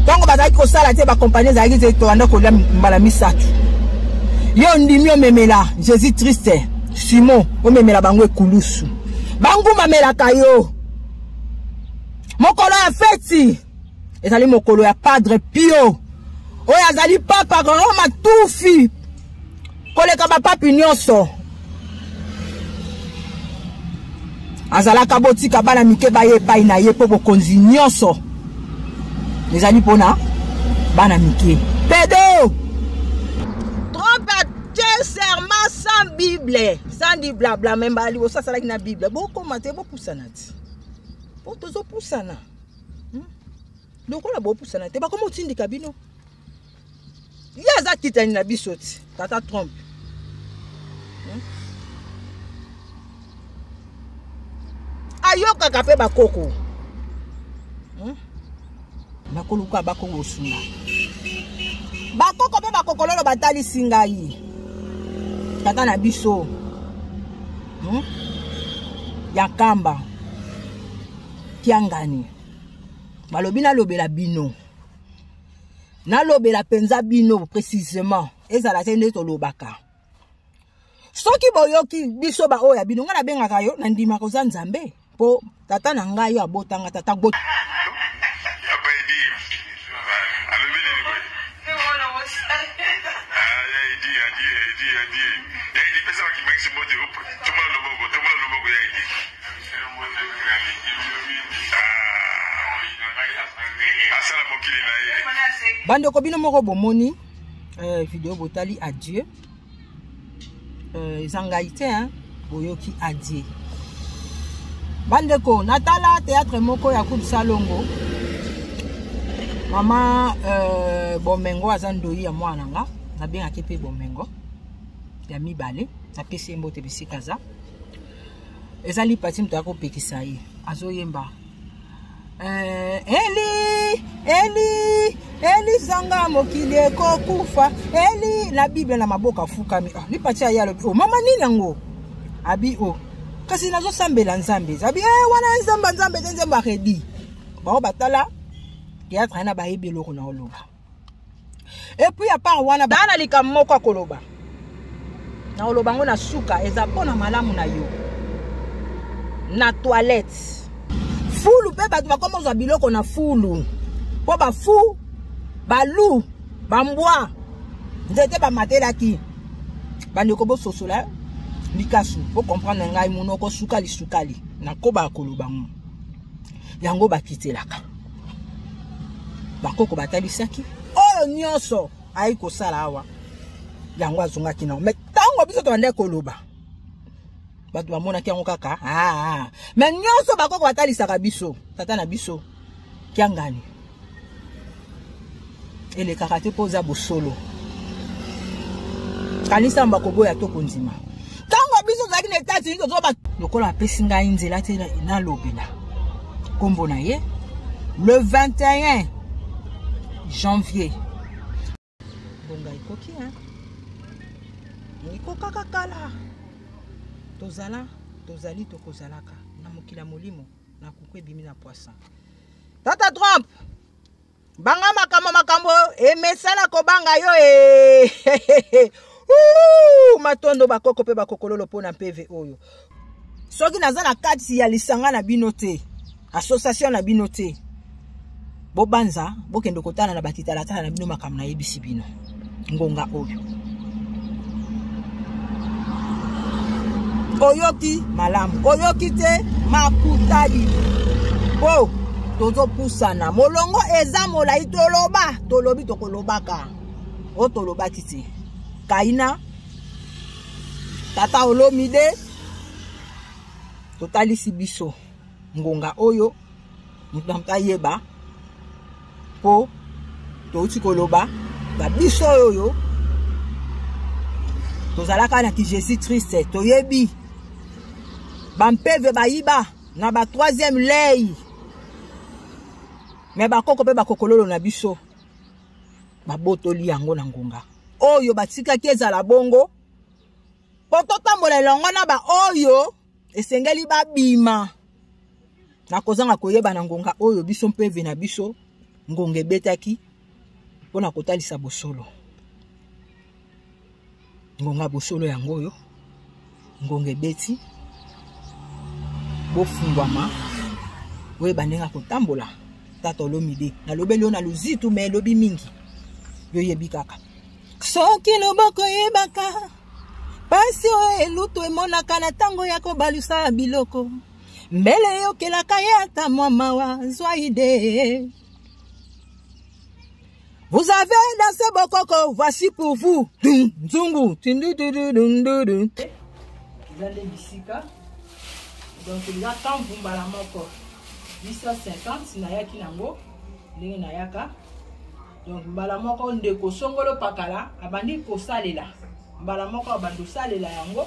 ntango bazalaki kosala te bakompani ezalaki te tolanda kolia mbala misato yo ondimi omemela jésus triste simon omemela bango ekulusu bangumamelaka yo mokolo ya feti ezali mokolo ya padre pio oyo azali papa roma tufi koleka bapapi nyonso azalaka botika bana mike baye epai na ye mpo bokonzi nyonso ezali mpona bana mike pedo serment sans bible sans di blabla me mbala liboso asalaki na bible bokoma te bopusana ti po tozopusana hmm? lokola bopusana te bakoma otindika bino ye aza kitani na biso ti tata trump hmm? ayokaka mpe bakoko hmm? bakoluka bakongosuna bakoko mpe bakokololo batalisi ngai tata na biso hmm? ya nkamba kiangani balobi nalobela bino nalobela mpenza bino précisément ezala te nde tolobaka soki boyoki biso baoyo ya bino ngai nabengaka yo nandimaka oza nzambe po tata na ngai yo abota nga tata go bandeko bino moko bomoni eh, video botali adieu euh, eza ngai te hein? boyoki adie bandeko natala théâtre moko ya coupe salongo mama euh, bomengo aza ndoyi ya mwana nga nabengaki mpe bomengo ya mibale napesi ye mbote bisika aza ezali pati moto akopekisa ye azoyemba Eh, eli eli eli zanga mokili ekokufa eli na bible na maboko afukami oh, ah, lipatia ye alobi o oh, mama nini yango abi o oh. kasi nazosambela nzambe abi e eh, wana nzambe nzambe te nzambe aredi bango batala teatre ye na bayebi eloko na oloba epuis ya part wana baa na likambo moko akoloba nakoloba yango na suka eza mpo na malamu na yo na toilette fulu mpe bato bakoma ozwa biloko na fulu mpo bafu balu bambwa nzete bamatelaki bandeko bososola likasu bocomprendre ngai monoko sukali sukali nakoba koloba ngo yango bakitelaka bakoko batalisaki oyo nyonso ayi kosala awa yango azongaki nango me ntango biso tobandaki koloba bato bamonaki yango kaka aa ah, ah. me nyonso bakoko batalisaka biso tata na biso kiangani elekaka te mpo oza bosolo kanisa mba koboya to kondima ntango biso tozalaki na etat unis tozoba lokola apesi ngai nzela te nalobela nkombo na ye le 21 janvier bonga ekoki ekokaka kala tozala tozali tokozalaka na mokili ya molimo na kuku ebimi na poisson tata trump banga makambo makambo emesana kobanga yo e matondo bakoko mpe bakokololo mpo na mpeve oyo soki naza na kati ya lisanga na bino te association na bino te bobanza bokende kotala na bakitalatala na bino makambo nayebisi bino ngonga oyo oyoki malamu oyoki te makutali po tozopusana molongo eza molai toloba tolobi tokolobaka o tolobaki te kaina tata olomide totalisi biso ngonga oyo moto na moto ayeba mpo touti koloba na biso oyo tozalaka na ki jésus triste toyebi bampeve bayiba na ba troisième lei me bakoko mpe bakokololo na biso babotoli yango na ngonga oyo batikaki ezala bongo mpo totambola elongo na baoyo esengeli babima na kozanga koyeba na ngonga oyo biso mpe ve na biso ngonga ebetaki mpo na kotalisa bosolo ngonga bosolo yango oyo ngonga ebeti bofungwama oyeba ndenge ya kotambola tata olomide nalobeli yo na luzitu me elobi mingi yoyebi kaka soki loboko eyebaka mpasi oyo elutu emonaka na ntango ya kobalusa biloko mbele eyokelaka ye ata mwa mawa zwa ide Vous avez dansé Bokoko, voici pour vous. Zungu. Vous allez ici, donc il y a tant Bumbala Moko. 850, Nayaki Nango, Nayaka. donc mbala moko ndeko songolo pakala abandi kosalela mbala moko abandi kosalela yango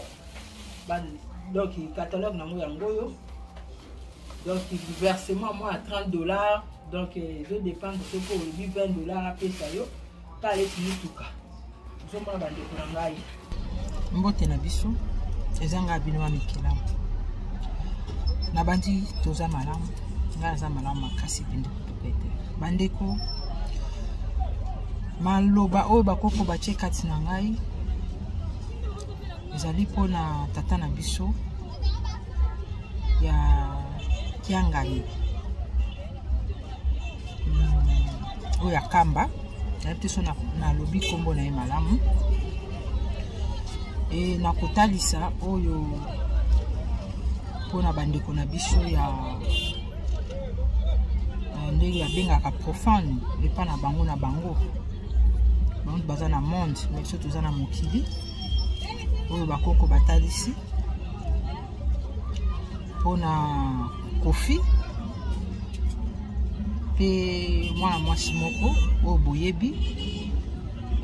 donc catalogue nango yango oyo donc versement mwa ya 30 dollars donc ezo dépendre soki olobi 20 dollars apesa yo mpe aleti mituka Bozomona bandeko na ngai, mbote na biso eza ngai bino wa mikelamu nabandi toza malamu ngai naza malamu makasi pende kutuka ete bandeko maloba oyo bakoko batye kati na ngai ezali mpo na tata na biso ya kiangani hmm, oyo akamba nayebi te so nalobi nkombo na ye malamu e na kotalisa oyo mpona bandeko na biso ya ndenge babengaka profane epa na bango na bango bango baza na monde me biso toza na mokili oyo bakoko batalisi mpona kofi mpe mwana mwasi moko oyo boyebi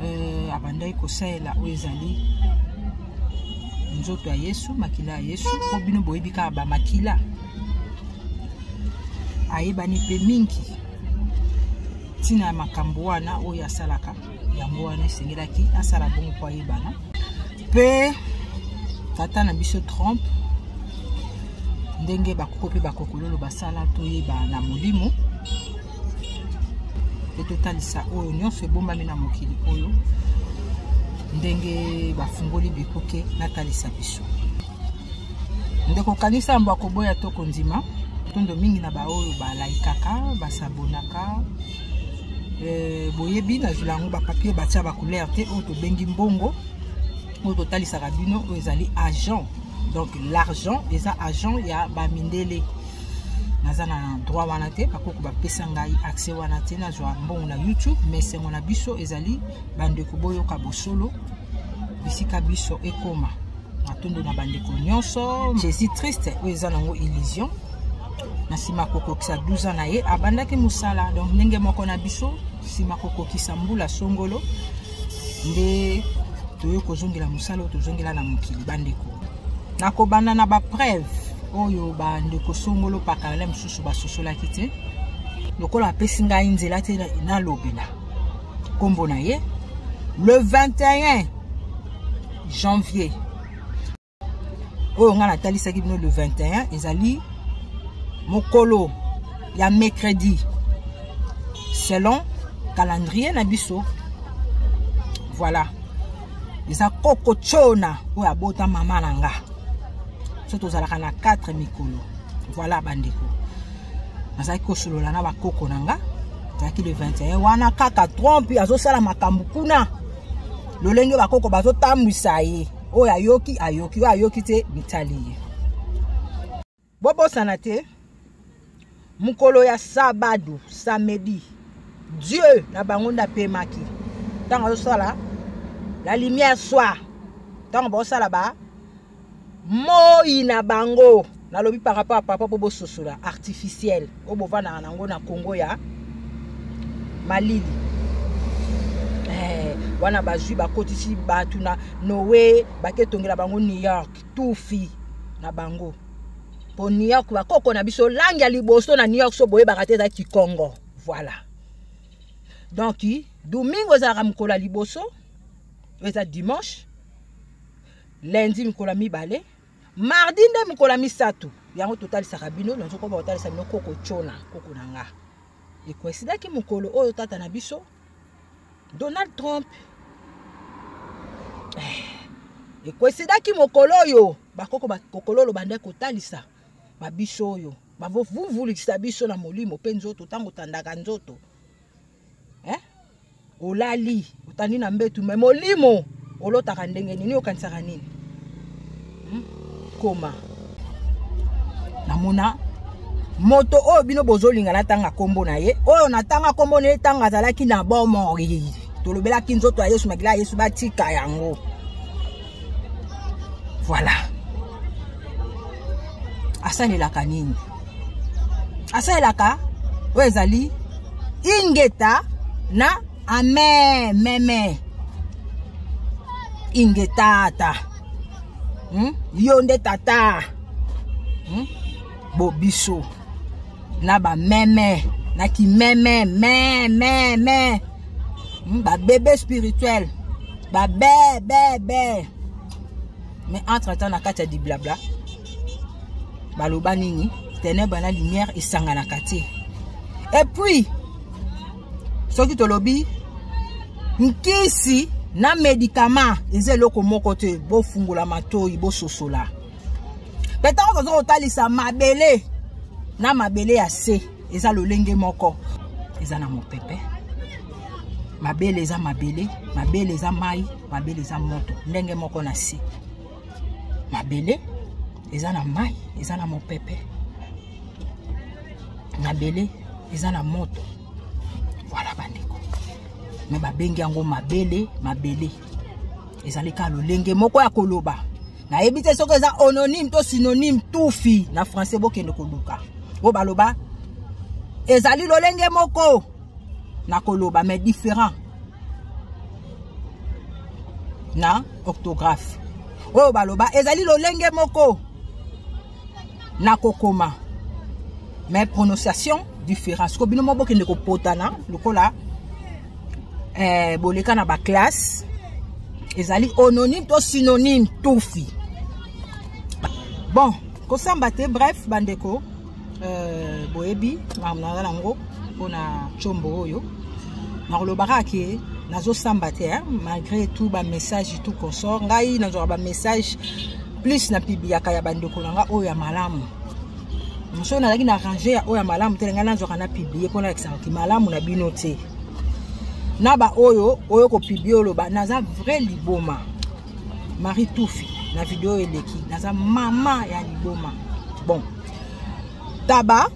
euh, abandaki kosalela oyo ezali nzoto ya yesu makila ya yesu mpo bino boyebi kaka bamakila ayebani mpe mingi ntina ya makambo wana oyo asalaka yango wana esengelaki asala bongo mpo ayebana mpe tata na biso trump ndenge bakoko mpe bakokololo basala toyeba na molimo mpe totalisa oyo nyonso ebombami na mokili oyo ndenge bafungoli bikuke natalisa biso ndeko kanisa yambo akoboya to kondima tondo mingi na baoyo balaikaka basabonaka Euh, boyebi nazwila yango bapapie batya bacouleur te oyo tobengi mbongo oyo totalisaka bino oyo ezali agent donc l'argent eza agent ya bamindele naza na droit wana te bakoko bapesa ngai accès wana te nazwa mbongo na youtube mais sengo na biso ezali bandeko boyoka bosolo bisika biso ekoma matondo na bandeko nyonso jésus triste oyo eza nango illusion na nsima kokokisa 12 ans na ye abandaki mosala donc ndenge moko na biso nsima kokokisa mbula songolo nde toye kozongela mosala oyo tozongela na mokili bandeko nakobanda na bapreuve oyo bandeko songolo pakalala mosusu basosolaki te lokola apesi ngai nzela te nalobela nkombo na ye le 21 janvier oyo ngai natalisaki bino le 21 ezali mokolo ya mercredi selon calendrier na biso voilà eza koko chona oyo abota mama na nga so tozalaka na 4 mikolo voilà bandeko nazalaki kosolola na bakoko na nga azalaki le 21 wana kaka trompe azosala makambo kuna lolenge bakoko bazotambwisa ye oyo ayoki ayoki oyo ayoki te bitali ye bobosana te mokolo ya sabado samedi dieu na bango nde apemaki ntango azosala la lumière soir ntango baosala ba moi na bango nalobi par rapport ya papa mpo bososola artificiel oyo bovandaka na yango na congo ya malili eh, wana bazwi bakotisi bato na noe baketongela bango new york tufi na bango mpo new york bakoko na biso langi ya liboso na new york so boyebaka te eza kikongo voilà donc domingo ezalaka mokolo ya liboso eza dimanche lundi mikolo ya mibale mardi nde mikolo ya misato yango totalisaka bino nazokoba kotalisa bino koko cona koko na nga ekoesidaki mokolo oyo tata na biso donald trump eh, ekoesidaki mokolo oyo bakoko bakokololo bande kotalisa babiso oyo bavuvulisa biso na molimo mpe nzoto ntango otandaka nzoto eh? olali otandi na mbetu me molimo olotaka ndenge nini okanisaka nini hmm? koma namona moto oyo bino bozolinga natanga nkombo na ye oyo natanga nkombo na ye ntango azalaki na bomoi tolobelaki nzoto ya yesu makila ya yesu batika yango voilà asalelaka nini asalelaka oyo ezali ingeta na ame meme ingetata hmm? yo nde tata hmm? bobiso na ba meme na ki meme me me me hmm, ba bebe spirituel ba be be be mais entre temps na kati ya diblabla baloba nini tenèbre na lumière esanganaka te et puis soki tolobi nkisi na medikama eza eloko moko te bofungola matoi bososola mpe ntango toza kotalisa mabele na mabele ya se eza lolenge moko eza na mopepe mabele eza mabele mabele eza mai mabele eza moto ndenge moko na se mabele eza na mai eza na mopepe mabele eza na moto voilà bandeko me babengi yango mabele mabele ezali kaka lolenge moko ya koloba nayebi te soki eza ononyme to synonyme tufi na français bokende koluka oyo baloba ezali lolenge moko na koloba mais différent na orthographe oyo baloba ezali lolenge moko na kokoma mais prononciation différence ko bino mobokende kopotana lokola eh, boleka na baklasse ezali ononyme to synonyme tufi bon kosamba te bref bandeko euh, boyebi makambo naza nango mpona combo oyo nakolobaka ke nazosamba te malgré tout bamessage tout consort ngai nazwaka bamessage plus na pibiaka ya bandeko na nga oyo ya malamu mosoki nazalaki na range ya oyo ya malamu te na ngai nazwaka na piblie mpo nalakisaka ki malamu na bino te na baoyo oyo kopiblie oloba naza vrai liboma marie tufi na video eleki naza mama ya liboma bon taba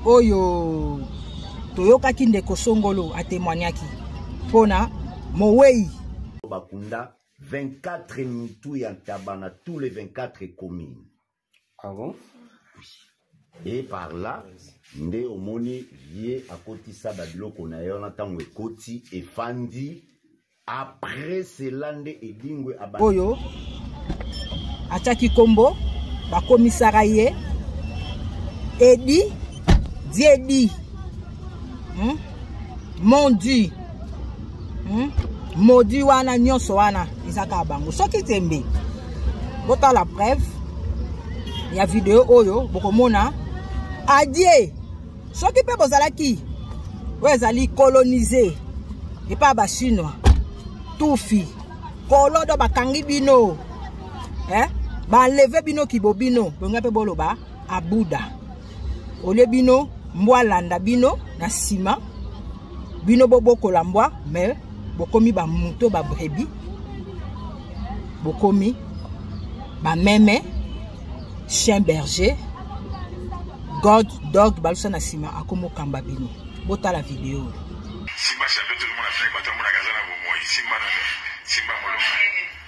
oyo toyokaki ndeko songolo atemoignaki mpona mowei bakunda 24 mitu ya ntaba na tous les 24 communes ah bon? et par là nde omoni ye akotisa babiloko na ye wana ntango ekoti efandi après cela nde edingwe oyo atyaki nkombo bakomisaka ye edi diedi hmm? mondi hmm? modi wana nyonso wana eza kaka bango soki tembe botala preuve ya video oyo bokomona adie soki mpe bozalaki oyo ezali colonise epai ya bachinois tufi kolodo bakangi bino eh? baleve bino kibobino bonga mpe boloba abuda olie bino mbwa alanda bino na nsima bino bobokola mbwa me bokomi bamoto babrebi bokomi bameme chien berger god dog balusa na nsima akomokamba bino botala video oyo simba chapeau tolomona fle bato amonaka aza na bomoi simba na simba molonga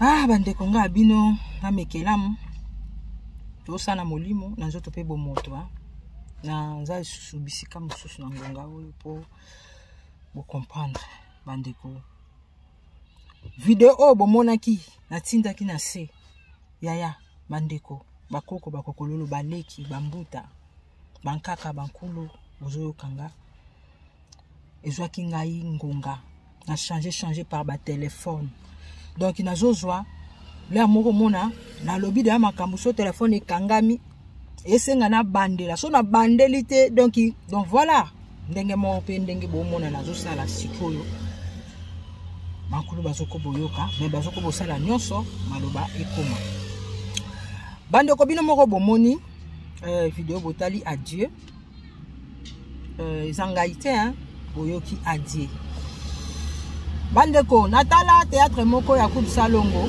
ah bandeko nga bino namekelamu tosana molimo na nzoto mpe bomoto ah. na nza lisusu bisika mosusu na ngonga oyo mpo bocomprendre bandeko video oyo bomonaki natindaki na se yaya bandeko bakoko bakokololo baleki bambuta bankaka bankulu bozoyokanga ezwaki ngai ngonga na change change par batelefone donk nazozwa lea moko mona nalobi deya makambo so telefone ekangami esenga na bandela so na bandeli te donc donc voilà ndenge moko mpe ndenge bomona nazosala sikoyo bankulu bazoko boyoka me bazoko bosala nyonso maloba ekoma bandeko bino moko bomoni euh, video botali adieu euh, eza ngai te hein? boyoki adie bandeko natala théâtre moko ya coupe salongo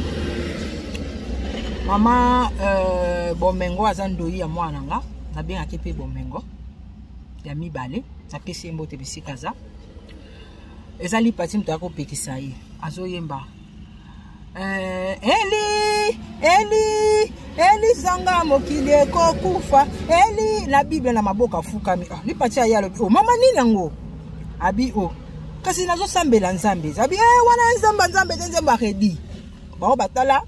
mama euh, bomengo aza ndoyi ya mwana nga nabengaki mpe bomengo ya mibale napesi ye mbote bisika aza ezali pati moto ya kopekisa ye azoyemba Eh, eli eli eli zanga mokili ekokufa eli na bible na maboko afukami oh, ah, lipati aye alobi o oh, mama nini yango abi o oh. kasi nazosambela nzambe abi e eh, wana nzambe nzambe te nzambe aredi bango batala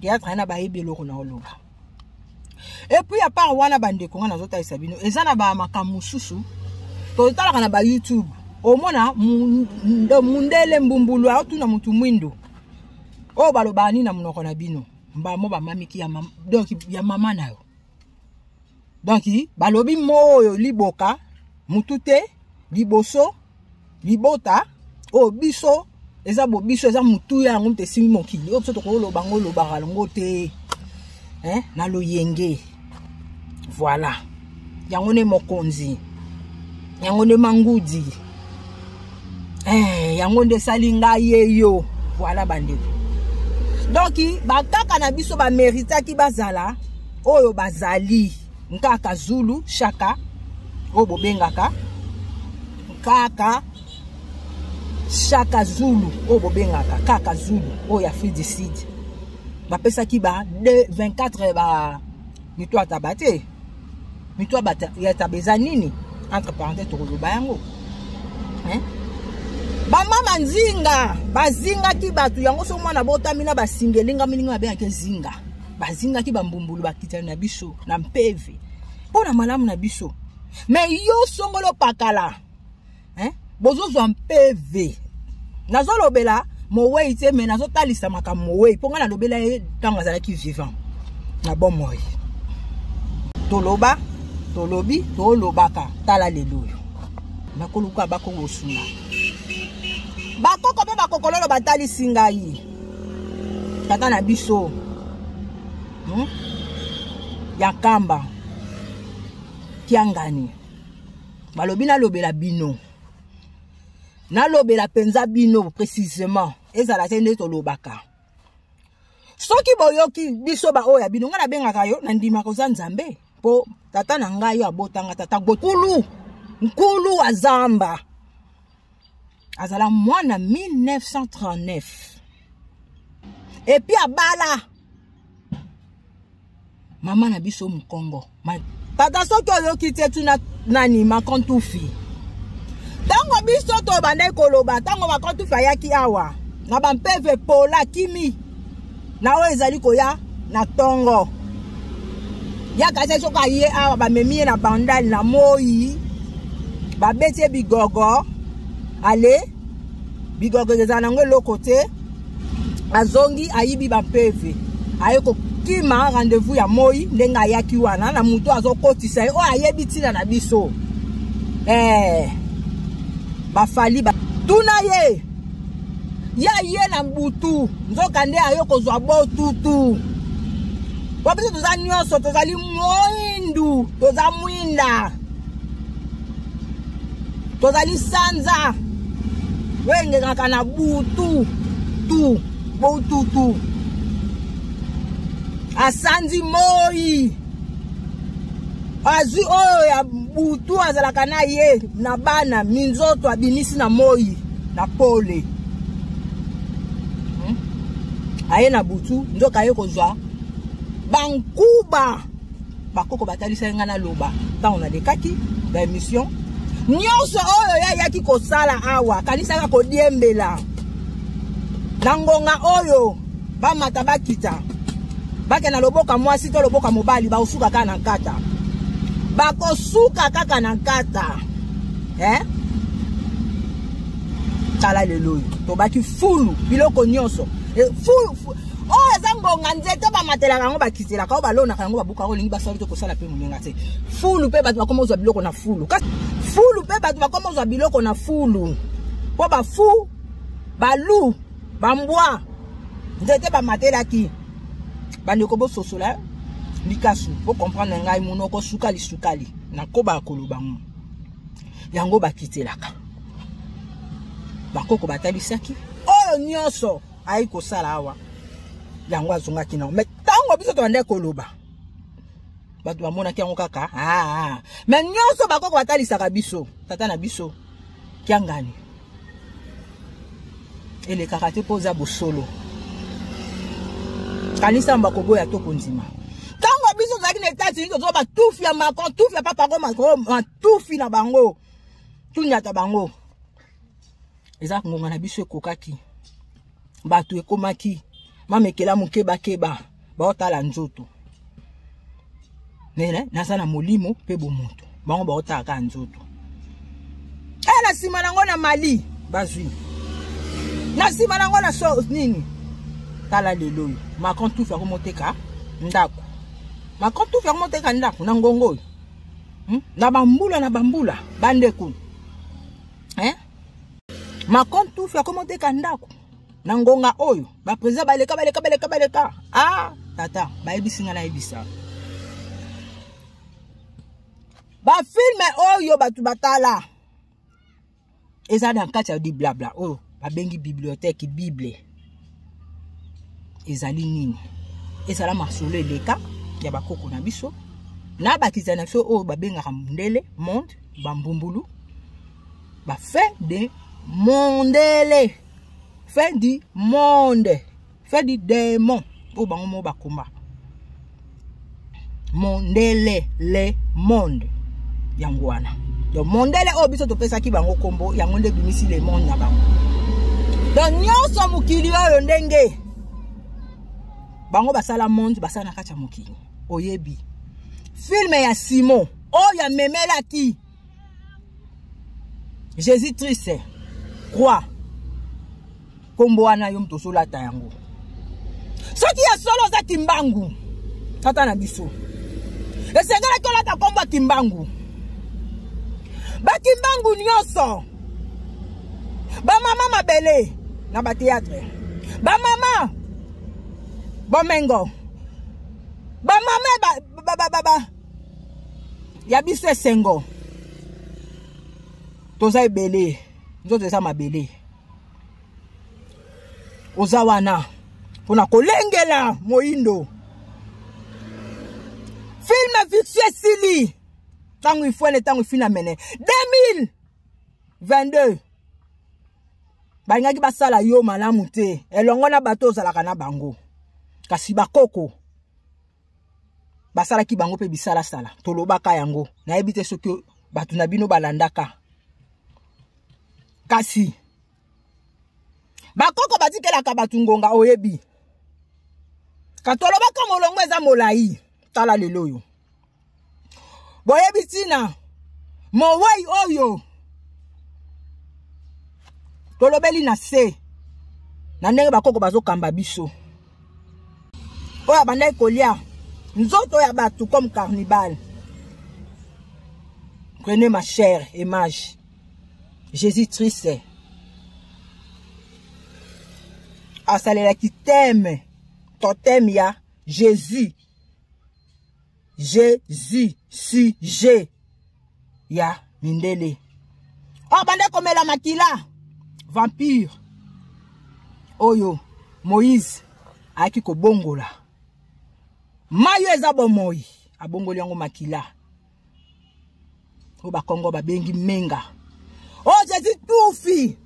teatre ye na bayebi eloko na oloba epuis ya part wana bandeko ngai nazotalisa bino eza na bamakambo mosusu totalaka na bayoutube omona mundele mbumbulu aotuna motu mwindo oyo balobaka nini na monoko na bino mbamo bamamiki ya, mam donc ya mama na yo donc balobi moo oyo liboka mutu te liboso libota oyo biso eza bobiso eza motuya yango moto esimbi mokili oyo biso tokoloba yango olobaka yango te eh, na loyenge voilà yango nde mokonzi yango nde mangudi eh, yango nde esali ngai ye yo voilà bandeko donc bakaka na biso bameritaki bazala oyo bazali nkaka zulu shaka oyo bobengaka nkaka shaka zulu oyo bobengaka kaka zulu oyo ya afrique du sud bapesaki ba 24 ba mitwataba te mitu ya taba eza nini entre parenthèse tokoloba yango hein? bamama nzinga bazingaki bato yango so mwana botami na basinga elingami ndenge babengaki ezinga bazingaki bambumbulu bakitani na biso na mpeve mpo na malamu na biso me yo songolo pakala hein bozozwa mpv nazolobela mowei te me nazotalisa makambo mowei mpo ngai nalobela ye ntango azalaki vivant na bomoi toloba tolobi tolobaka tala lelo oyo nakoluka bakongosuna bakoko mpe bakokololo batalisi ngai tata na biso hmm? ya nkamba kiangani balobi nalobela bino nalobela mpenza bino précisément ezala te nde tolobaka soki boyoki biso baoyo ya bino ngai nabengaka yo nandimaka oza nzambe mpo tata na ngai yo abotanga tata gokulu nkulu azamba azala mwana 1939 epuis abala mama na biso mokongo tata soki oyoki te tuna nani makontufi ntango biso tobandaki koloba ntango makontufi ayaki awa na bampeve pola kimi na oyo ezali koya na tongo ya kasi soki aye awa bamemi ye na bandal na moi babeti ye bigogo ale bigogo ezala nango eloko te azongi ayibi bampeve aye kokima rendez-vous ya moi ndenge ayaki wana na moto azokotisa ye oyo oh, ayebi ntina na biso eh, bafali ba... tuna ye ya ye na butu nzoka nde ayo kozwa botutu po biso toza nyonso tozali moindu toza mwinda tozali sanza oyo engengaka na butu tu botutu asanzi moi azwi oyo ya butu azalaka na ye na bana minzoto abimisi na moi na pole hmm? aye na butu nzoka aye kozwa bankuba bakoko batalisaki ngai naloba ntango nalekaki baemission nyonso oyo ye ayaki kosala awa akanisaka kodiembela na ngonga oyo bamata bakita bake na loboka mwasi to loboka mobali bakosuka kaka na nkata bakosuka kaka na nkata eh? tala lelo oyo tobaki fulu biloko nyonso e, fulu oyo eza ngonga nzete bamatelaka yango bakitelaka oyo balonaka yango babukaka olingi basali te kosala mpe moninga te fulu mpe bato bakoma ozwa biloko na fulu kasi fulu mpe bato bakoma ozwa biloko na fulu mpo bafu balu bambwa nzete bamatelaki bandeko bososola eh? likasu bocomprendre ngai monoko sukali sukali nakobaka koloba ngo yango bakitelaka bakoko batalisaki oyo nyonso ayi kosala awa yango azongaki nango mai ntango biso tobandaki koloba bato bamonaki yango kaka ah, ah. mai nyonso bakoko batalisaka biso tata na biso kiangani elekaka te mpo oza bosolo kanisa mba koboya to kondima ntango biso tozalaki na etats-unis tozwa batufi ya macron tufi ya papago macron matufi na bango tunyata bango eza ngonga na biso ekokaki bato ekomaki mamekela mokebakeba baotala nzoto mene naza na molimo mpe bomoto bango baotala kaka nzoto e na nsima na yango na mali bazwi na nsima na yango na so nini tala lelo oyo macron tufi yango moteka ndako macron tufi yango moteka ndako na ngongo oyo hmm? na bambula na bambula bandeko eh? macron tufi akomi oteka ndako na ngonga oyo bapresident baleka baleka baleka baleka a ah, tata bayebisi ngai nayebisa bafilme oyo bato batala eza na kati ya diblabla oyo babengi bibliothèque bible ezali nini ezala masolo eleka ya bakoko na biso na bakisa na biso oyo babengaka mundele monde bambumbulu bafin de mondele fin du monde fin du démon oyo bango moko bakoma mondele le monde yango wana donc mondele oyo biso topesaki bango nkombo yango nde ebimisi le monde na bango donc nyonso mokili oyo ndenge bango basala monde basala na kati ya mokili oyebi filme ya simon oyo amemelaki jésus triste croix kombo wana yo moto osolata yango soki ya solo oza kimbangu tata na biso esengelaki olata kombo ya kimbangu bakimbangu nyonso bamama mabele na bateatre bamama bomengo bamama ba, ba, ba, ba, ba. ya biso esengo toza ebele nzoto eza mabele oza wana mpo na kolengela moyindo filme fiction esili ntango ifuene ntango ifina mene 2022 balingaki basala yo malamu te elongo na bato ozalaka na bango kasi bakoko basalaki bango mpe bisalasala tolobaka yango nayebi te soki bato na bino balandaka kasi bakoko batikelaka bato ngonga oyebi katolobaka molongo eza molai tala lelo oyo boyebi ntina mowei oyo tolobeli na se na ndenge bakoko bazokamba biso oyo abandaki kolia nzoto ya bato comme carnibal prenez ma chère image jésus triste asalelaki teme toteme ya jésus jesus sujet ya mindele oyo oh, bande komela makila vampire oyo moïse ayaki kobongola mai oyo eza bomoi abongoli yango makila oyo bakongo babengi menga oyo oh, jezi tufi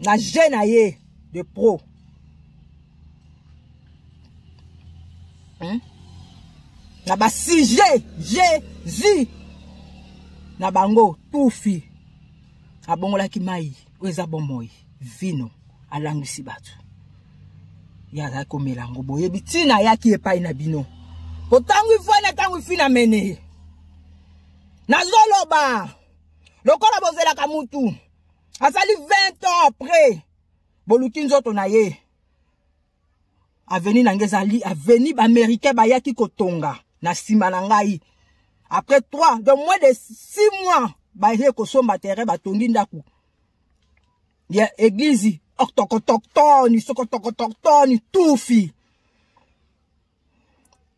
na je na ye de pro hmm? na basujet jezi na bango tufi abongolaki mai oyo eza bomoi vino alangwisi bato ye azalaki komela yango boyebi ntina ayaki epai na bino po ntango ifwani ntango ifi na mene ye nazoloba lokola bozelaka mutu asali 20 ans après boluki nzoto na ye aveni na ngai ezali aveni baaméricain bayaki kotonga na nsima na ngai après 3 donc moins de 6 mois baye kosomba terrain batongi ndako ya eglize octocotoktoni sokotokotoktoni tufi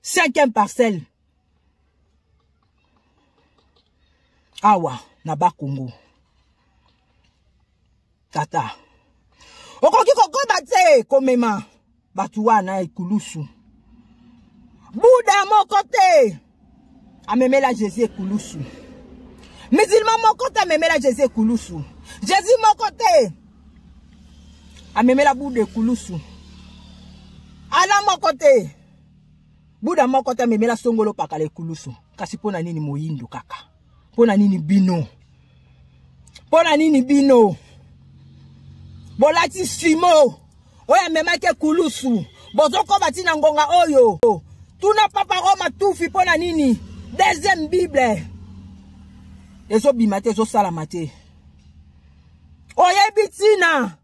cinquième parcelle awa na bakongo tata okoki kokoba te komema bato wana ekulusu buda moko te amemela jésus ekulusu musulman moko te amemela jésus ekulusu jésus moko te amemela buda ekulusu ala moko te buda moko te amemela songolo pakala ekulusu kasi mpo na nini moyindo kaka mpo na nini bino mpo na nini bino bolati simo oyo amemaki ekulusu bozokoba ntina ngonga oyo tuna papa roma tufi mpo na nini deuxième bible ezobima te ezosalama te oyebi ntina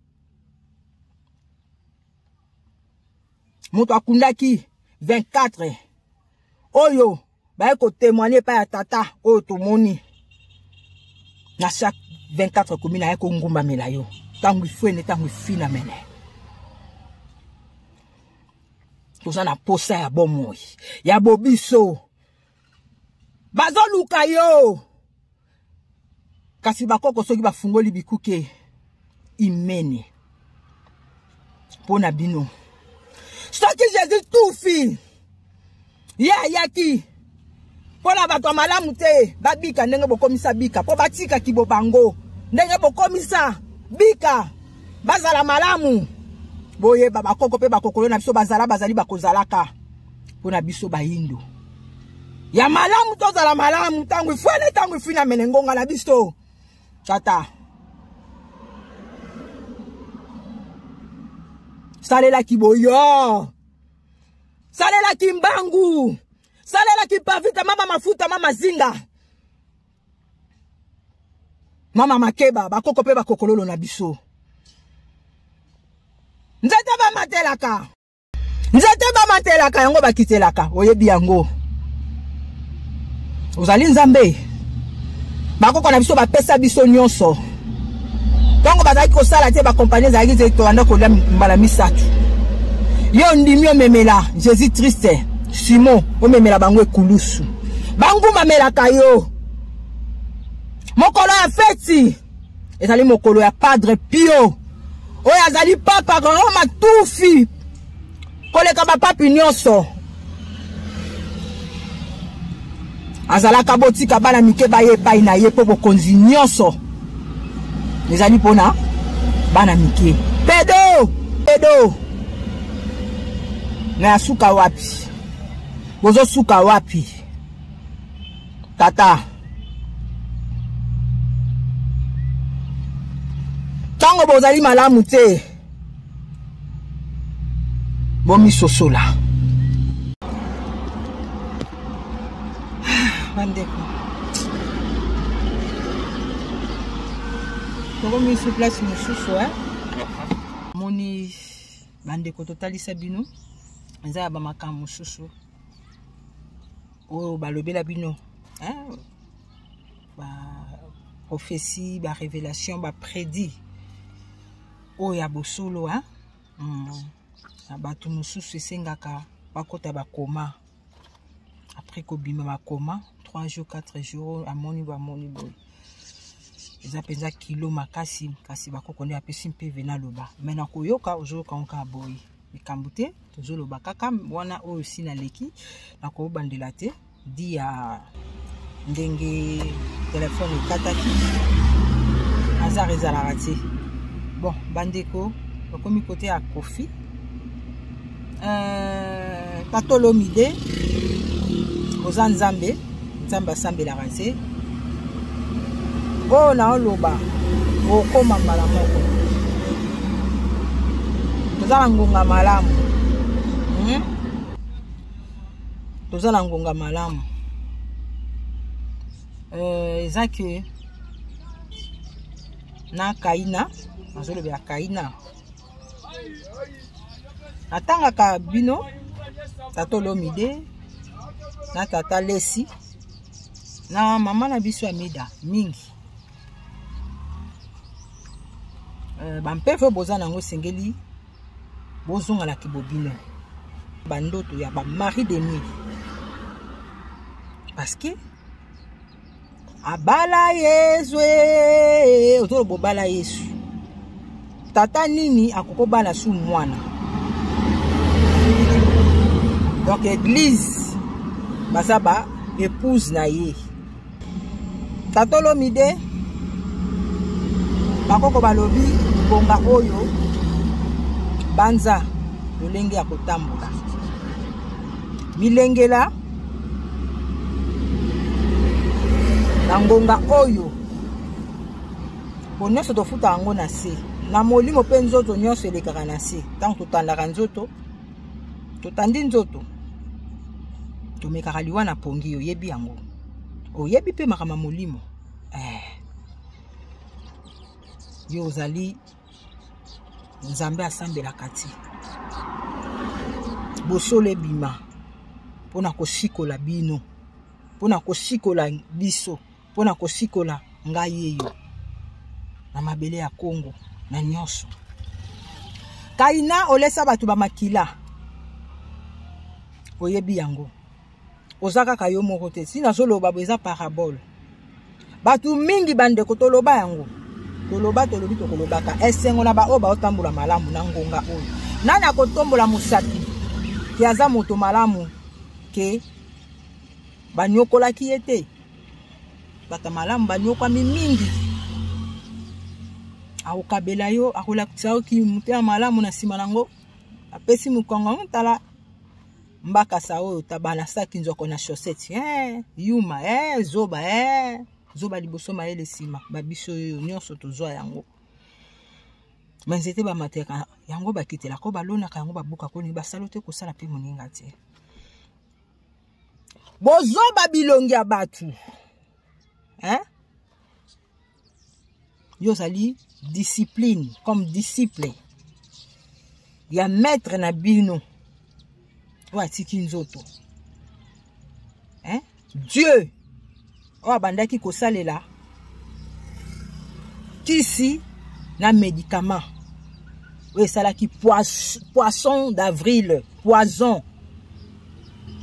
moto akundaki 24 oyo baye kotemoigne epai ya tata oyo tomoni na chaque 24 commune aye kongumbamela yo ntango ifuene ntango ifina mene toza na mposa ya bomoi ya bobiso bazoluka yo kasi bakoko soki bafungoli bikuke imene mpo na bino soki jésus tufi ye ayaki mpo na bato ya malamu te babika ndenge bokomisa bika mpo batika kibo bango ndenge bokomisa bika bazala malamu boyeba bakoko mpe bakokolo na biso bazala bazali bakozalaka mpo na biso bayindo ya malamu tozala malamu ntango ifwani ntango ifini amene ngonga na biso tata salelaki boyo salelaki mbangu salelaki pavita mama mafuta mama zinga mama makeba bakoko mpe bakokololo na biso nzete bamatelaka nzete bamatelaka yango bakitelaka oyebi yango ozali nzambe bakoko na biso bapesa biso nyonso ntango bazalaki kosala te bakompani ezalaki te tolanda kolia mbala misato yo ondimi omemela jésus triste simon omemela bango ekulusu bangumamelaka yo mokolo ya feti ezali mokolo ya padre pio oyo azali papa roma tufi koleka bapapi nyonso azalaka botika bana mike baye epai na ye mpo bokonzi nyonso ezali mpona bana mike pedo pedo na ya suka wapi bozosuka wapi tata ntango bozali malamu te bomisosola bandeko tokomi su place mosusu e moni bandeko totalisa bino eza ya bamakambo mosusu oyo balobela bino baprophétie barévélation baprédit oyo ya bosolo na hmm. bato mosusu esengaka bakota bakoma après kobima bakoma 3 jours 4 jours amoni bamoni boye eza mpenza kilo makasi kasi bakoko nde apesi mpe vena loba mai na koyoka ozoyoka yango kaka boye likambo te tozoloba kaka wana oyo si naleki nakobandela te di ya ndenge telefone ekataki azar ezalaka te bon bandeko bakomi kote ya kofi euh, patolomide oza nzambe nzambe asambelaka nse oyo naoloba okoma mbala moko toza na ngonga malamu hmm? toza na ngonga malamu euh, eza ke na kaina nazolobela kaina natangaka bino tata olomide na tata lesi na mama na biso ya mida mingi euh, bampeve oyo boza na yango esengeli bozonga na kibobino bandoto ya bamari de nuit parce que abala yesu eh, ozoloba obala yesu tata nini akoki obala su mwana donc eglise baza ba épouse na ye tata olomide bakoko balobi bonga oyo banza lolenge ya kotambola milengela na ngonga oyo po nyonso tofuta yango na se na molimo mpe nzoto nyonso elekaka na se ntango totandaka nzoto totandi nzoto tomekaka liwa na pongi oyebi yango oyebi mpe makambo ya molimo eh. yo ozali nzambe asambelaka ti bosolo ebima mpo na kosikola bino mpo na kosikola biso mpo na kosikola ngai yeyo na mabele ya kongo na nyonso kaina olesa bato bamakila oyebi yango oza kaka yo moko te si nazoloba bo eza parabole bato mingi bandeko toloba yango toloba tolobi tokolobaka esengo na baoyo baotambola malamu na ngonga oyo nani akotombola mosapi ke aza moto malamu ke banyokolaki ye te bato malamu banyokwami mingi akokabela yo akolakisa yo kimotema malamu na nsima na yango apesi mokongo tala mbakasa oyo tabalasaki nzoko na chaussette eh, yuma eh, zoba eh. zoba liboso mayele nsima babiso oyo nyonso tozwa yango banzete bamateka yango bakitelaka oyo balonaka yango babukaka oyo basalo te kosala mpe moninga te bozoba bilongi ya bato eh? yo ozali discipline comme disciple ya maître na bino oyo atiki nzoto hein? dieu oyo abandaki kosalela kisi na médicament oyo esalaki poisson d'avril poison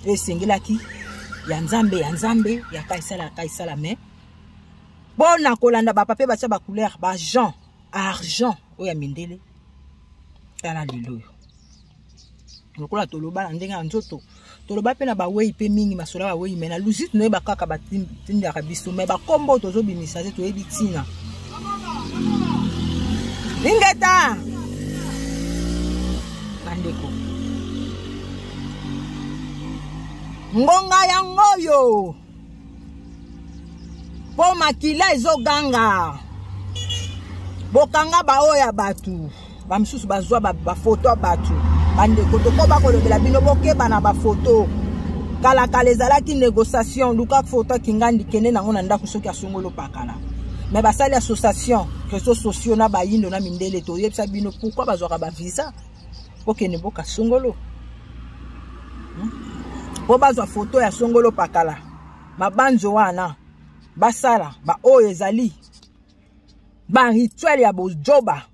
oyo esengelaki ya nzambe ya nzambe ya kaisala ya kaisala mais mpo na kolanda bapapier batya bacouleur bajean argent oyo ya mindele tala lelo oyo lokola toloba na ndenge ya nzoto toloba mpe na bawei mpe mingi masolo ya bawei mai na lusite noyeba kaka batindaka biso mai bakombo oyo tozobimisa te toyebi ntina lingeta bandeko ngonga yango oyo mpo makila ezoganga bokanga baoyo ya bato bamosusu bazwa bafoto ya bato bandeko tokoba kolobela bino bokeba na bafoto kalakala ezalaki négociation luka foto akingandi kende nango na ndako soki asongolo pakala me basali association réseau sociaux na bayindo na mindele toyebisa bino pourkui bazwaka bavisa bokende boka songolo hmm? mpo bazwa foto ya songolo pakala mabanzo wana basala baoyo ezali barituele ya bojoba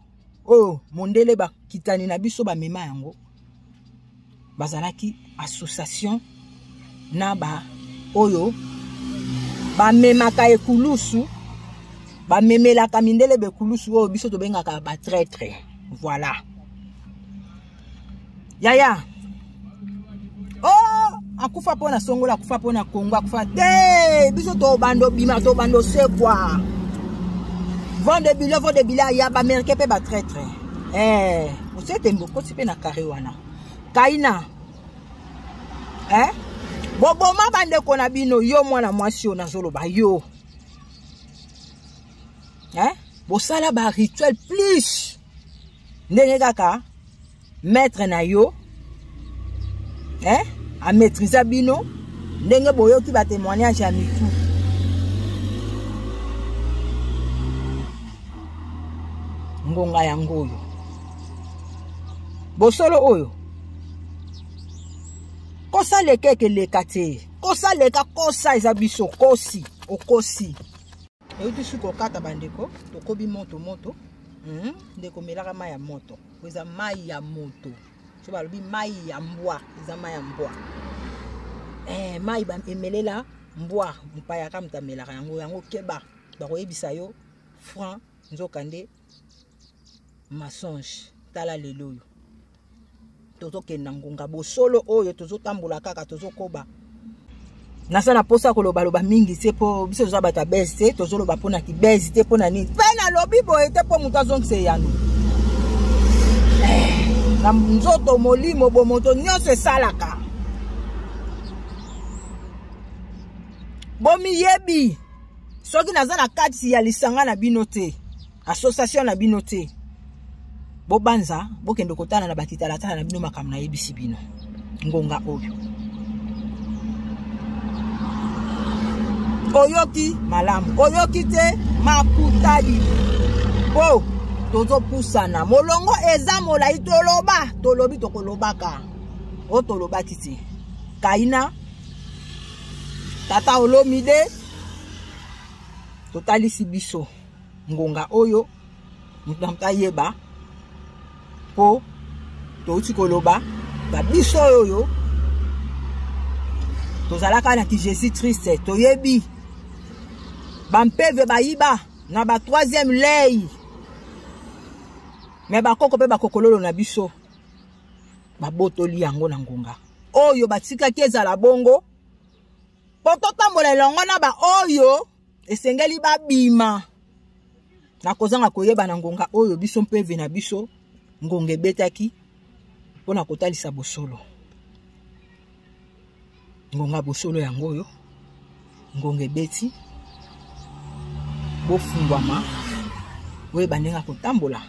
oyo mondele bakitani na biso bamema yango bazalaki association na ba oyo bamemaka ekulusu bamemelaka mindele bekulusu oyo biso tobengaka batraitre voilà yaya oh akufa mpo na songola akufa mpo na kongo akufa te biso tobanda obima tobanda osekwa vende bilo vende bila ya baamerikain mpe batraitre eh, osete mbokoti mpe na kare wana kaina eh? boboma bandeko na bino yo mwana mwasi oyo nazoloba yo eh? bosala barituel plus ndenge kaka maître na yo eh? amaîtrisa bino ndenge boyoki batémoignage ya mitu ngonga yango oyo bosolo oyo kosa leka ekeleka te kosa leka kosa eza biso kosi okosi euti soki kokata bandeko tokobi moto moto hmm? ndeko melaka mai ya moto po eza mai ya moto so balobi mai ya mbwa eza mai ya mbwa eh, mai emelela mbwa mopayaka moto amelaka yango yango keba bakoyebisa yo franc nzokande masonge tala lelo oyo tozokende na ngonga bosolo oyo tozotambola kaka tozokoba naza na mposa kolobaloba mingi te mpo biso toza bato ya bese te tozoloba mpo na kibese te mpo na nini mpe nalobi boye te mpo moto azongisa eyano eh, na nzoto molimo bomoto nyonso esalaka bomiyebi soki naza na kati ya lisanga na bino te association na bino te bobanza bokende kotala na bakitalatala na bino makambo nayebisi bino ngonga oyo oyoki malamu oyoki te makutadi po tozopusana molongo eza molai toloba tolobi tokolobaka oyo tolobaki te kaina tata olomide totalisi biso ngonga oyo moto na moto ayeba mpo touti koloba na biso oyo tozalaka na ki jésus triste toyebi bampeve bayiba na ba troisième lei me bakoko mpe bakokololo na biso babotoli yango na ngonga oyo batikaki ezala bongo mpo totambola elongo na baoyo esengeli babima na kozanga koyeba na ngonga oyo biso mpe ve na biso ngonga ebetaki mpo na kotalisa bosolo ngonga bosolo yango oyo ngonga ebeti bofungwama oyeba ndenge akotambola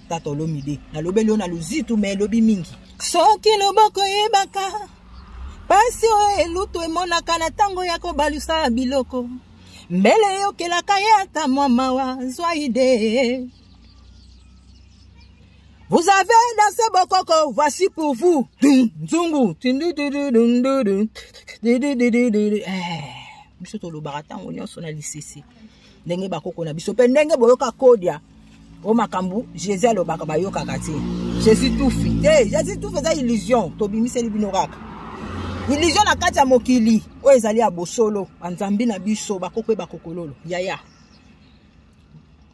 tata olomide nalobeli yo na luzitu me elobi mingi soki loboko eyebaka Pasi oyo elutu emonaka na ntango ya kobalusa biloko mbele eyokelaka ye ata mwa mawa zwa ide Vous avez dansé Bokoko, voici pour vous. Nzungu. Eh, biso tolobaka ntango nyonso na lisese. ndenge bakoko na biso mpe ndenge boyoka kodia o makambo jésus alobaka bayokaka te jésus tufi te jésus tufi eza illusion tobimiseli bino kaka illusion na kati ya mokili oyo ezali ya bosolo banzambi na biso bakoko mpe bakokololo yaya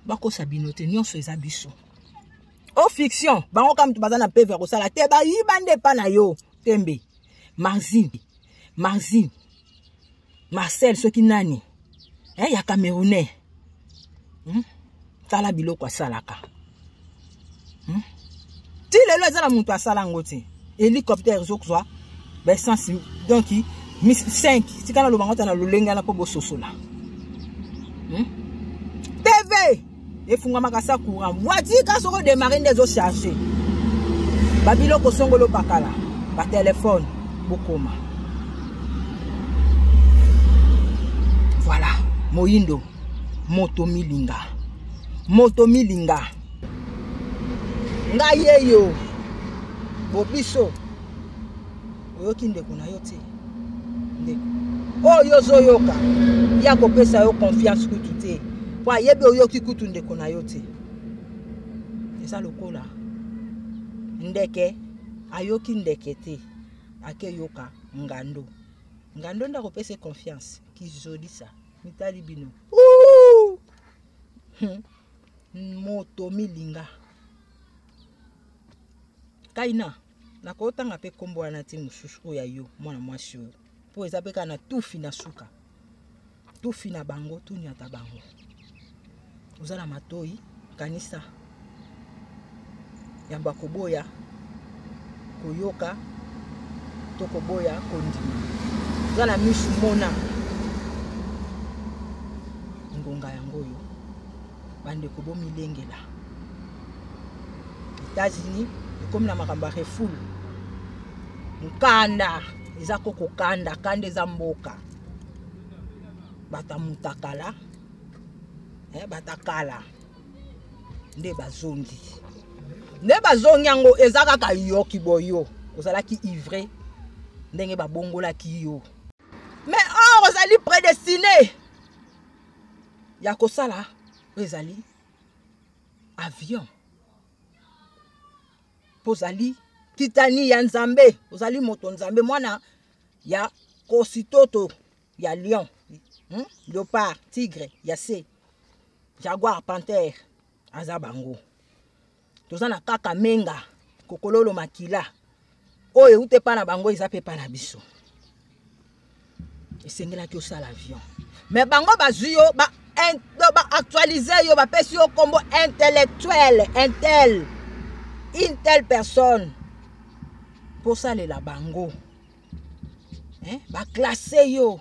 bakosa bino te nyonso eza biso o fiction bango kaka moto baza na peve ya kosala te bayiba nde epa na yo tembe marzini marzini marcel soki nani eh, ya camerounais hmm? tala biloko asalaka hmm? ti lelo eza na moto asala yango te hélicoptère ezokozwa baessence donc 5 tika naloba ngo ta na lolenge wana mpo bososola hmm? tv efungamaka sa courant voiture ka soko démarre nde ezo charge babiloko songolo bakala batelefone bokoma voilà moyindo moto milinga moto milinga ngai yeyo bobiso oyoki ndeko na yo te ndeko oyo ozoyoka ye akopesa yo confiance kutu te mpo ayebi oyoki kutu ndeko na yo te eza lokola ndeke ayoki ndeke te akeyoka ngando ngando nde akopesa confiance kizolisa mitali bino hmm. moto milinga kaina nakotanga mpe nkombo wana ti mosusu oyo ya yo mwana mwasi oyo mpo eza mpe kaka na tufi na suka tufi na bango tunyata bango oza na matoi kanisa yambo ya koboya koyoka to koboya kondima oza na misu mona ngonga yango oyo bandeko bomilengela états-unis ekomi na makambo ya refule mokanda eza ko kokanda kanda eza mboka bata mutakala eh, batakala nde bazongi nde bazongi yango eza kaka yoki boyo ozalaki ivre ndenge babongolaki yo mais or ozali prédestiné ya kosala oyo ezali avion mpo ozali kitani ya nzambe ozali moto nzambe mwana ya kositoto ya lion hmm? leopard tigre ya se jaguar pantere aza bango toza na kaka menga kokololo makila oyo euta epa na bango eza mpe epa na biso esengelaki osala avion me bango bazwi yo baactualise ba yo bapesi yo nkombo intellectuel intel une telle personne mpo osalela bango eh? baklasse yo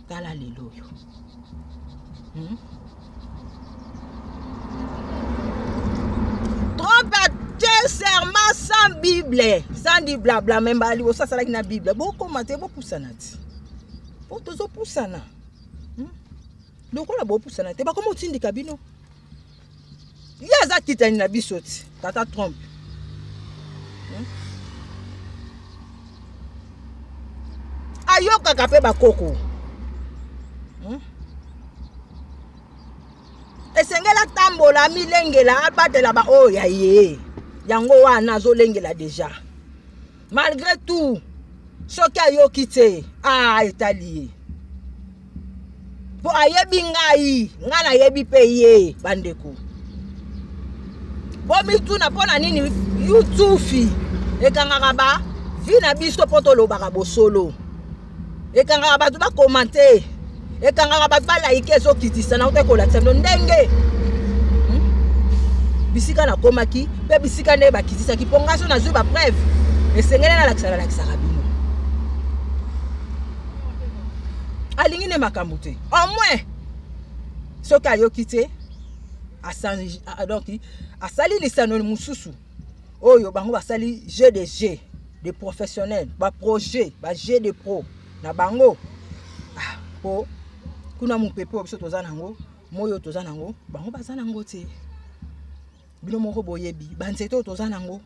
tala lelo oyo hmm? trompe te serment sans bible sans di blabla me mbala liboso asalaki na bible bokoma te bopusana ti mpo tozopusana hmm? lokola bopusana te bakoma otindika bino ye aza kitani na biso ti tata trump hmm? ayokaka mpe bakoko hmm? esengeli atambola amilengela abatela baoyo ya ye yango wana azolengela deja malgré tout soki ayoki te a ah, etali ye mpo ayebi ngai ngai nayebi mpe ye bandeko bomituna mpo na nini yutufi ekangaka ba vi na biso mpo tolobaka bosolo ekangaka bato bakomante ekangaka bato balaike ezokitisa na oke kolakisa bino ndenge hmm? bisika nakomaki mpe bisika nde bakitisaki mpo ngai so nazwi bapreuve esengeli nalakisa nalakisaka bino alingi nde makambo te au moins soki ayoki te donc asali lisano mosusu oyo bango basali jeu de jeu de professionnel baprojet bajeu de pro na bango ah, po kuna mopepe oyo biso toza nango moi oyo toza nango bango baza nango te bino moko boyebi banzete oyo toza nango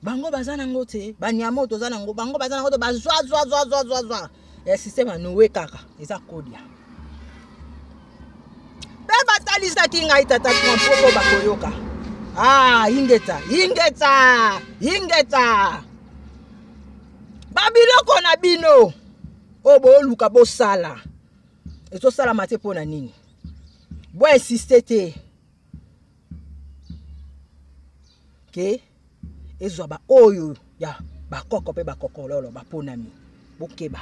bango baza nango te banyama oyo toza nango bango baza nango te bazwa zwa zwa zwa zwa zwa ya systeme ya noe kaka eza kodia mpe batalisaki ngai tata mpo bakoyoka ah ingeta ingeta ingeta babiloko na bino oyo booluka bosala ezosalama te mpo na nini boinsiste te ke ezwa baoyo ya bakoko mpe bakokololo baponami bokeba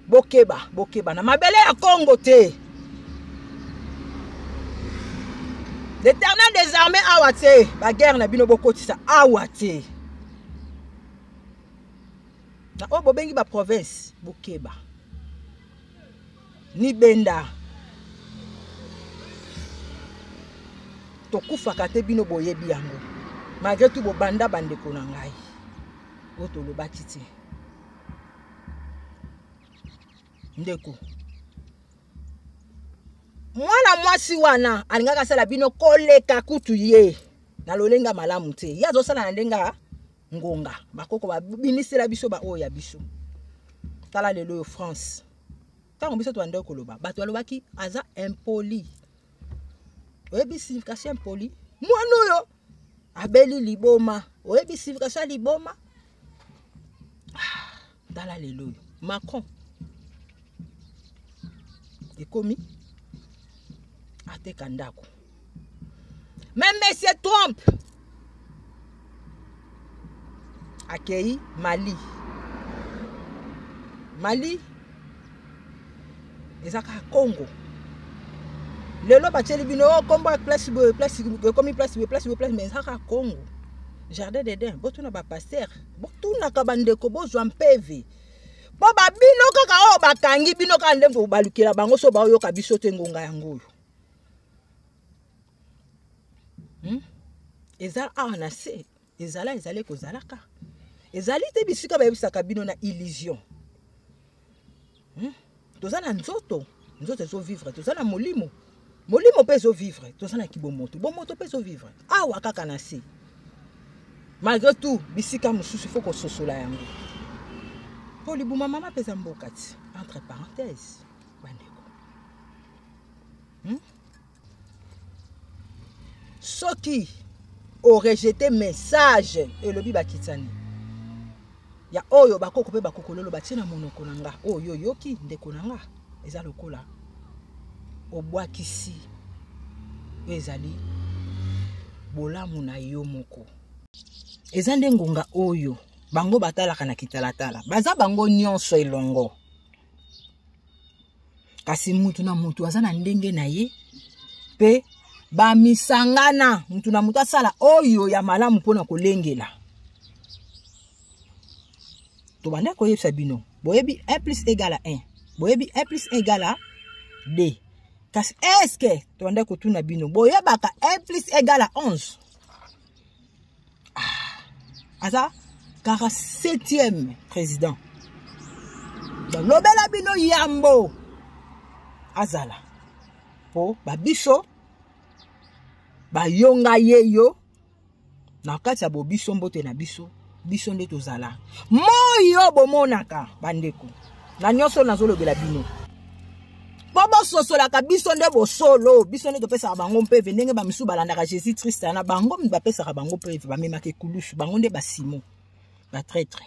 bokeba bokeba na mabele ya kongo te l'éternel des armées awa te baguerre na bino bokotisa awa te na oyo bobengi baprovince bokeba ni benda tokufaka te bino boyebi yango malgre tu bobanda bandeko na ngai oyo tolobaki te ndeko mwana mwasi wana alingaka asala bino koleka kutu ye na lolenge ya malamu te ye azosala na ndenge ya ngonga bakoko babimisela biso baoyo ya biso tala lelo oyo france ntango biso tobandaki koloba bato balobaki aza impoli oyebi signification impoli mwana oyo abeli liboma oyebi signification ya liboma ah, tala lelo oyo macron ekomi ateka ndako me monsieur trump akei mali mali eza kaka congo lelo batyeli bino o oh, nkombo ya place boye place ekomi place boye place boye place mais eza kaka congo jardin d'eden botuna bapaster botunaka bandeko bozwa mpeve mpo babino kaka oyo bakangi bino kaka nde balukela bango so baoyoka biso te ngonga yango oyo hmm? eza awa na se ezala ezali kozalaka ezali te bisika bayebisaka bino na illusion hmm? toza na nzoto nzoto ezovivre toza na molimo molimo mpe ezovivre toza na kibomoto bomoto mpe ezovivre awa kaka na se malgré tout bisika mosusu ifo kososola yango mpo libuma mama mpe eza mboka ti entre parenthèse hmm? soki orejete message elobi bakitani ya oyo bakoko mpe bakokololo batie na monoko na nga oyo oyoki ndeko na nga eza lokola obwakisi oyo ezali bolamu na yo moko eza nde ngonga oyo bango batalaka na kitalatala baza bango nyonso elongo kasi mutu na mutu aza na ndenge na ye mpe bamisangana mutu na mutu asala oyo ya malamu mpo na kolengela tobanda koyebisa bino boyebi 1 plus egala 1 boyebi 1 plus egala 2 kasi eske tobanda kotuna bino boyebaka 1 plus egala 11 ah, aza 47e président lobela bino yambo azala mpo babiso bayonga ye yo na kati ya bobiso mbote na biso biso nde tozala moi oyo bomonaka bandeko na nyonso oyo nazolobela bino mpo bososolaka biso nde bosolo biso nde topesaka bango mpeve ndenge bamisusu balandaka jésus krist na bango bapesaka bango mpeve bamemaka ekulusu bango nde basimo batraitre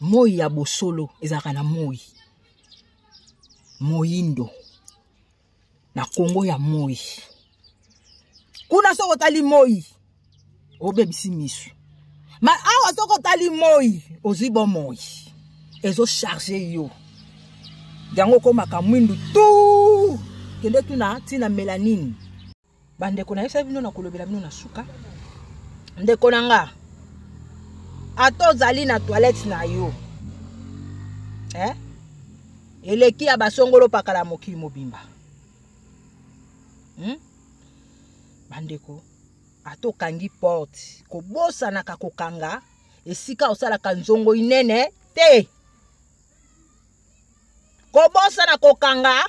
moi ya bosolo ezalaka na moi moyindo na kongo ya moi kuna soki otali moi obebisi misu ma awa soki otali moi ozwi bomoi ezocharge yo yango okomaka mwindu tu kende tuna ntina melanine bandeko nayebisa bino nakolobela bino na suka ndeko na nga ata ozali na toilette na yo eh? eleki ya basongolo pakala mokili mobimba hmm? bandeko ata okangi porte kobosanaka kokanga esika osalaka nzongo inene te kobosana kokanga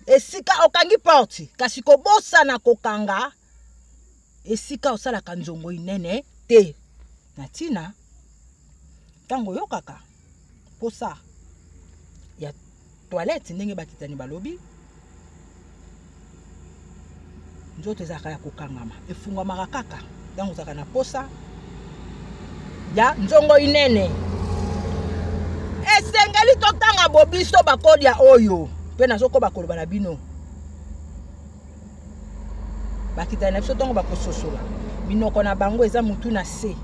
esika okangi porte kasi kobosana kokanga esika osalaka nzongo inene te na ntina ntango oyokaka mposa ya toilette ndenge bakitani balobi nzoto ezalaka ya kokangama efungwamaka kaka ntango ozalaka na posa ya nzongo inene esengeli totanga bobiso bakolia oyo mpe nazokoba koloba na bino bakitani na biso ntongo bakososola minoko na bango eza motu na se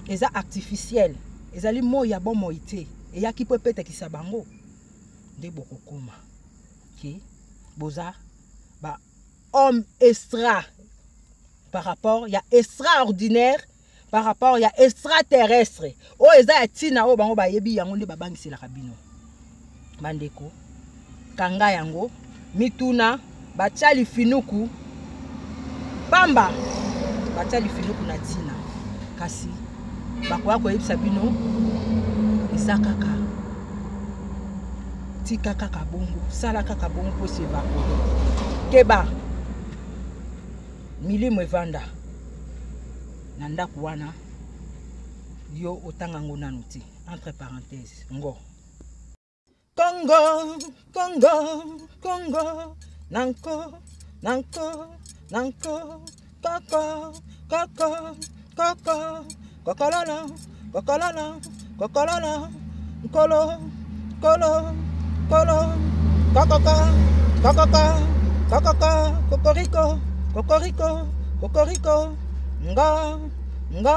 eza artificiel ezali moi ya bomoi te eyaki mpo epetakisa bango nde bokokoma ke boza ba homme extra par rapport ya extraordinaire par rapport ya extraterrestre oyo eza ya ntina oyo bango bayebi yango nde babangiselaka bino bandeko kanga yango mituna batya lifinuku pamba batya lifinuku na ntina kasi bakoya koyebisa bino eza kaka tika kaka bongo sala kaka bongo mpo esi evakole keba milimo evanda na ndako wana yo otanga ngo nanu te entre parenthèse ngo Congo, Congo, Congo, nanko, nanko, nanko, koko, koko, koko, kokololo, kokololo, kokololo, nkolo, nkolo, nkolo, kokoka, kokoka, kokoka, kokoriko, kokoriko, kokoriko, nga, nga,